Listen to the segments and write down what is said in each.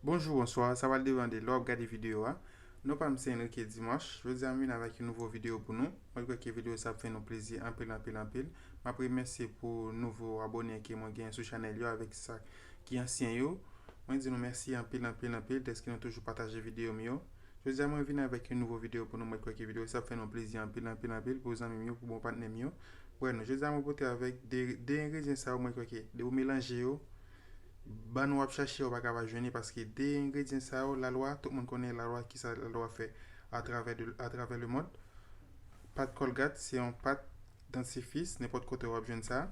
Bonjou, bonswa, sa va depan de lè w ap gade videyo a. Non pa m se Enrique Dimanche. Jodi a m vin avèk yon nouvo videyo pou nou. Mwen kwè ke videyo sa ap fè nou plezi anpil anpil anpil. M ap remèsye pou nouvo abone ke mwen genyen sou chanèl yo avèk sa ki ansyen yo. Mwen di nou mèsi anpil anpil anpil dèske nou toujou pataje videyo m yo. Jodi a mwen vin avèk yon nouvo video pou nou mwen kwè ke video sa ap fè nou plezi anpil anpil anpil pou zanmim yo pou bon patnèm yo wè nou jodi a mwen pote avèk 2 engredyen sa yo mwen kwè ke depi ou melanje yo bann wap chache a ou paka pa jwenn li paske 2 engredyen sa yo lalwa tout moun konnen lalwa kisa lalwa fè atravè atravè le mond pat kolgat se yon pat Dentifrice nenpòt kote wap jwenn sa.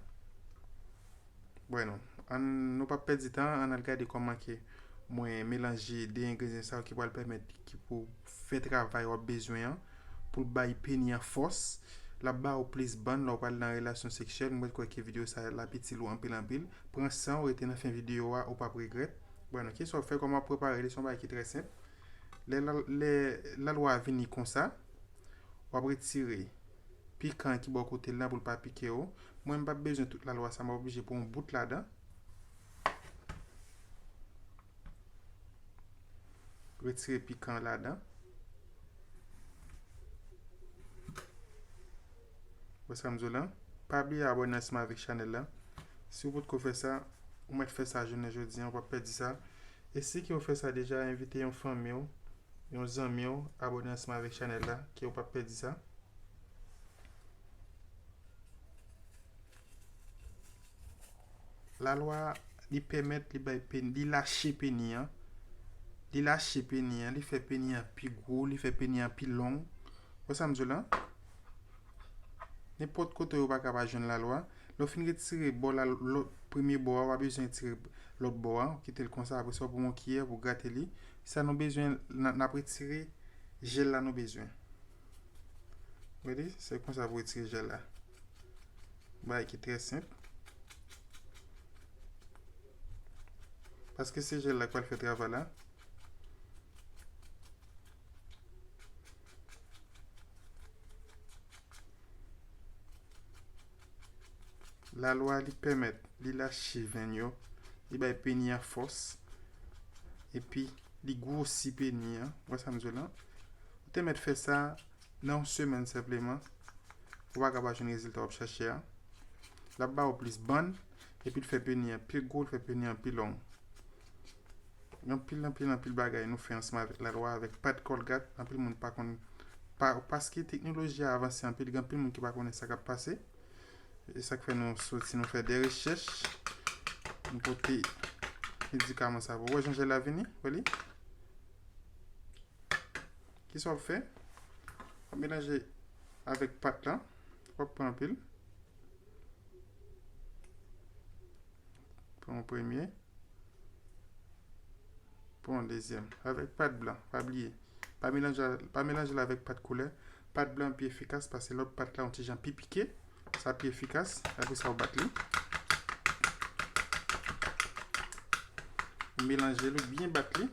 Bueno, ann nou pa pèdi tan, ann al gade kòman ke mwen melanje 2 engredyan sa yo ki pral pèmèt ki pou fè travay wap bezwen an pou l bay peni an fòs, lap ba ou plis bann lè w pral nan relasyon seksyèl, mwen kwè ke video sa lap itil ou anpil anpil. Pran san w rete nan fen video a, ou pap regrèt. Bueno, kisa wap fè, kòman wap prepare li, se yon bagay ki trè senp. Lè lalwa a vini konsa, wap retire pikan an ki bò kote l la pou l pa pike w. Mwen m pap bezwen tout lalwa sa, m ap oblije pou yon bout ladan. Retire pikan an ladan. Wè sa m di w la? Pa bliye abòne ansanm avèk chanèl la. Si w potko fè sa, ou mèt fè sa jounen jodi an, ou pap pèdi sa. E si ke w fè sa deja, envite yon fanmi w. yon zanmiw abone ansanm avèk chanèl la ke ou pap pèdi sa. La lwa li pèmèt li bay peni, li lache peni an, li lache peni an, li fè peni an pi gwo, li fè peni an pi long. Wè sa m di w lan? Nenpòt kote ou pa ka pa jwenn la lwa. Lè w fin retire bò la lwa, premye bò a ou pa bezwen retire lòt bò a, ou kite l konsa apresa ou pran yon kiyè pou grate li Sa nou bezwen nap retire jel la nou bezwen. Gade se konsa pou retire jel la. Bagay ki trè senp. Paske se jel la ki pral fè travay la. Lalwa a li pèmèt, li lache venn yo, li bay peni a fòs, epi li gwosi peni a. Wè sa m di w la? Ou te mèt fè sa nan yon semèn senpleman, ou pa ka pa jwenn rezilta w ap chache a. L ap ba ou plis bann, epi l fè peni a pi gwo, l fè peni a pi long. Gen anpil anpil anpil bagay nou fè ansanm avèk lalwa, avèk pad Colgate, anpil moun pa konn pa paske teknoloji a avanse anpil, gen anpil moun ki pa konnen sa k ap pase. E sa k fè nou soti nou fè de rechèch, nou pote medikaman sa pou wè jan jèl la vini, wè li. Ki sa w ap fè? W ap melanje avèk pat lan, w ap pran anpil. Pran yon premye. Pran yon dezyèm. Avèk pat blan. Pa bliye. Pa melanje al, pa melanje l avèk pat koulè. Pat blan an pi efikas pase lòt pat la yon ti jan pi pike. Sa pi efikas. Apre sa ou bat li. Ou melanje l, ou byen bat li.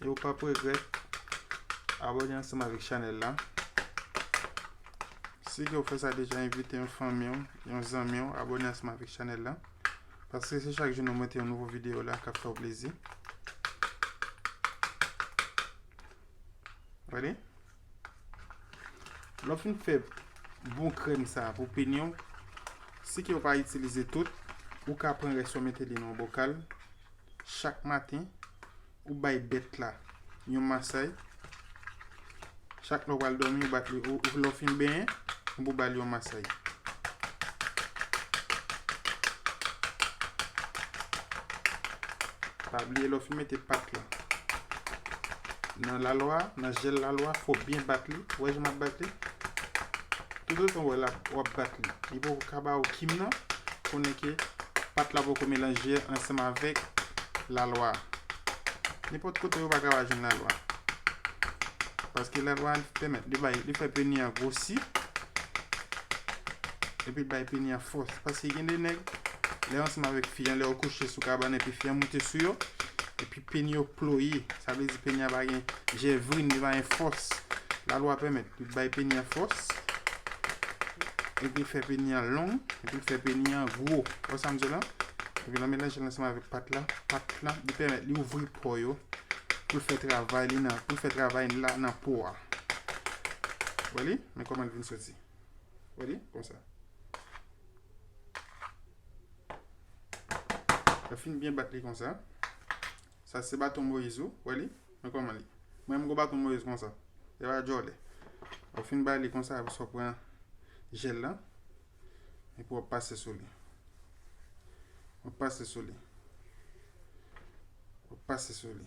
E ou pap regrèt abòne ansanm avèk chanèl la. Si ke ou fè sa deja envite yon fanmi ou, yon zanmi ou abòne ansanm avèk chanèl la. Paske se chak jou nou mete yon nouvo videyo la kap fè ou plezi. Ready? Lè w fin fè bon krèm sa pou penyen w, si ke w pa itilize tout, ou ka pran rès yo mete li nan yon bokal. Chak maten, ou bay bèt la yon masay. Chak lè w pral dòmi, ou bat li. Lè w fin benyen, ou pou ba li yon masay. Pa bliye lè w fin mete pat la. Nan lalwa, nan jèl lalwa, fò w byen bat li. Wè jan m ap bat li? Toutotan w wè l ap, w ap bat li, li poko ka ba ou kim nan, konnen ke pat la poko melanje ansanm avèk lalwa. Nenpòt kote yo pa ka va jwenn lalwa. Paske lalwa li pèmèt, li bay, li fè peni an gwosi, epi l bay peni an fòs. Paske gen de nèg, lè yo ansanm avèk fi an, lè yo kouche sou kabann epi fi an moute sou yo, epi Peni yo ploye, sa vle di peni a pa gen jèvrin, li pa gen fòs. Lalwa pèmèt pou bay peni a fòs, epi l fè peni a long, epi l fè peni a gwo. Ou wè sa m di la? Epi lè w melanje l ansanm avèk pat la, pat la, li pèmèt li ouvri po yo pou l fè travay li nan, pou l fè travay li la nan po a. Wè li? Men kòman l vin soti. Wè li? Konsa. Lè fin byen bat li konsa. Sa se baton Moïse ou, wè li? Mwen koman li. Mwen mgo baton Moïse konsa. E pa jole. Ou fin ba li konsa ou so pran gel lan. E pou wap pase sou li. Wap pase sou li. Wap pase sou li.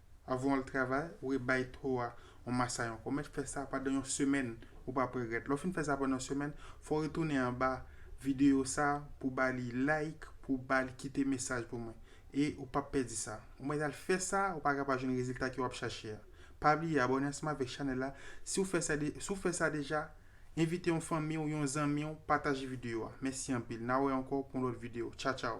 Avan wal travay, ou re bay to a yon masay ankò. Mèt fè sa pandan yon semèn, ou pap regrèt. Lè w fin fè sa pandan yon semèn, fè w retounen anba videyo sa pou ba li like, pou ba li kite mesaj pou mwen. E ou pap pèdi sa. Ou mèt al fè sa, ou pa ka pa jwenn rezilta ke wap chache a. Pa bliye abòne ansanm avèk chanèl la, si w fè sa de, si w fè sa deja, envite yon fanmi w, yon zanmi w, pataje videyo a. Mèsi anpil. Na wè ankò pou yon lòt videyo. Tchaw tchaw.